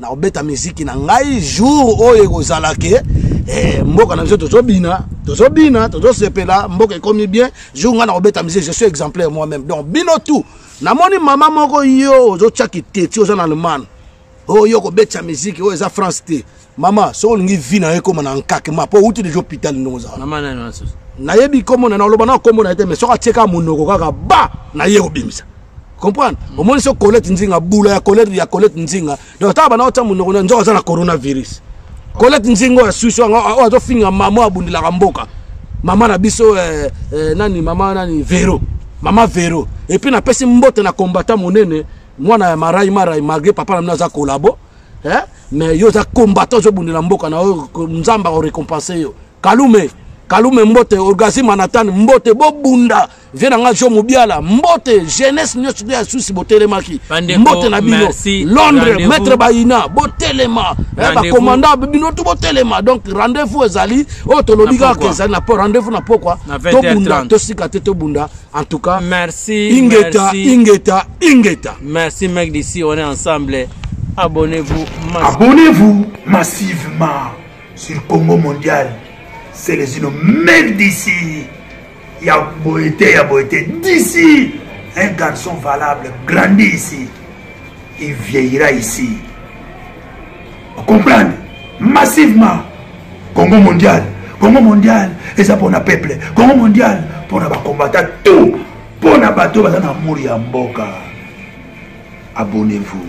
na kobeta miziki na ngai jour oyo ekozala ke eh, mboka na biso tozobina tozobina tozosepela mboka ekomi bien jour ngai na kobeta miziki je suis exemplaire moi même donc bino tout namoni mama moko yo ozotya kiteti oza na allemagne oyo kobetisa miziki oyo eza france te mama soki olingi vi na yo ekóma na nkakema mpo outi deja hôpital ndenge ozala nayebi nkombo na oloba na nkombo na ye te mais soki atieka monoko kaka ba naye kobimisa comprendre mm. omoni so colette nzinga bula ya colette ya colette nzinga donc tala bana otya monoko na nzoka aza na coronavirus colette nzinga oyo asusu yango oyo azofinga mama abundilaka mboka mama na biso eh, eh, nani mama nani vero mama vero epuis napesi mbote na kombata monene mwana ya marai marai malgré papa na mino aza kolabo eh? mais yo oza combattant ozobundela mboka na yo nzambe akorekompense yo kalume kalume mbote orgasi manatan mbote bobunda vie na ngai jo mobiala mbote jeunesse nyonso ya susi botelemaki mbote na bino londres maître bayina botelema eh, bacommanda bino tu botelema donc rendez-vous ezali oyo oh, tolobi kaka ezali na rendez-vous na pokwa tobunda tosika te tobunda en tout cas merci ingeta merci. ingeta ingeta merci mec d'ici on est ensemble abonnez-vous abonnez-vous massivement sur congo mondial selezino meme d'ici ya boye te ya boye te d'ici un garçon valable grandi ici il vieillira ici comprendre massivement congo mondial congo mondial eza mpona peuple congo mondial mpona bakombata tout mpona bato baza na amour ya mboka abonnez-vous